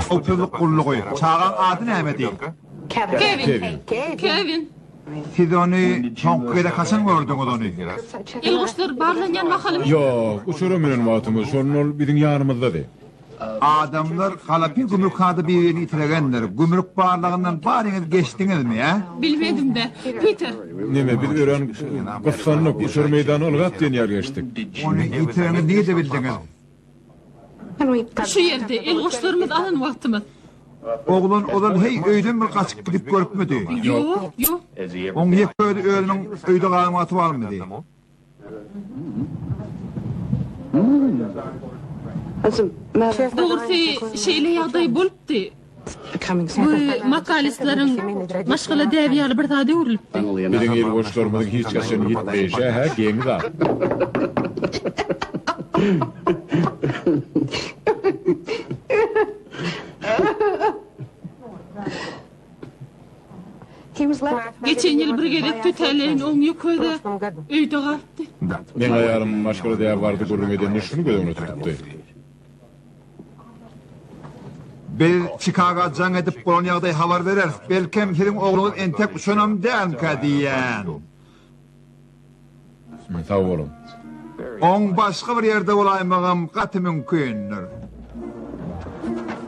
Howpsuzlyk gullugy. Çagaň ady nämedi? Kevin. Kevin. Siz ony soňky gezek haçan gördüňiz ony? Il-guşlar barlanýan mahalym. Ýok, uçara münen wagtymyz, şonda ol biziň ýanymyzdady. Adamlar Galapin gümrükhada birini itiregendir. Gümrük barlagyndan baryňyz geçdiňizmi, ä? Bilmedim-de, Piter. Neme, biz örän gyssandyk, uçar meýdany ylgap diýen ýaly geçdik. Ony itireňizi nirde bildiňiz? Şu ýerde, elgoşlarymyz alan wagtymyz. Oglan ozal heý öýden bir gaçyp gidip görüpmidi? Ýok, ýok. Oň ýeke özi özüniň öýde galan wagty barmydy? Dogrusy, şeýle ýagdaý bolupdy. Bu makalistlaryň maşgala däbi ýaly bir zada öwrülipdi. Biziň ilgoşlarymyzyň hiç haçan ýitmeýşi hä geň zat. Geçen ýyl bir gezek tötäleýin oň ýüküde öýde galdy. Meň aýalym maşgala däbi barada gürrüň edende şuny göz öňüne tutupdy. Biz Çikaga jaň edip bolan ýagdaýy habar bereris. Belkem, siziň ogluňyz entek uçanam dälmikä diýýän. Sag boluň. Oň başga bir ýerde bolaýmagam gaty mümkindir.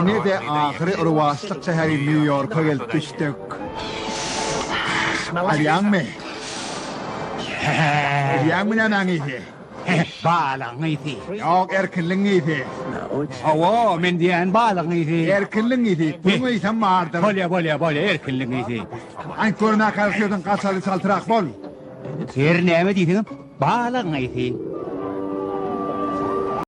Ine-de ahyry rowaçlyk şäheri Nýu-Ýorka gelip düşdük. Bilýäňmi? Bilýäňmi nämäň ysy? Balygyň ysy. Ýok, erkinligiň ysy. Hawa, men diýýän balygyň ysy. Erkinligiň ysy. Puluň ysam bardyr. Bolýa, bolýa, bolýa, erkinligiň ysy. Aýt görüm, nähili sözüň gaçaly çaltrak bol. Her näme diýseňem balagyň eýesi.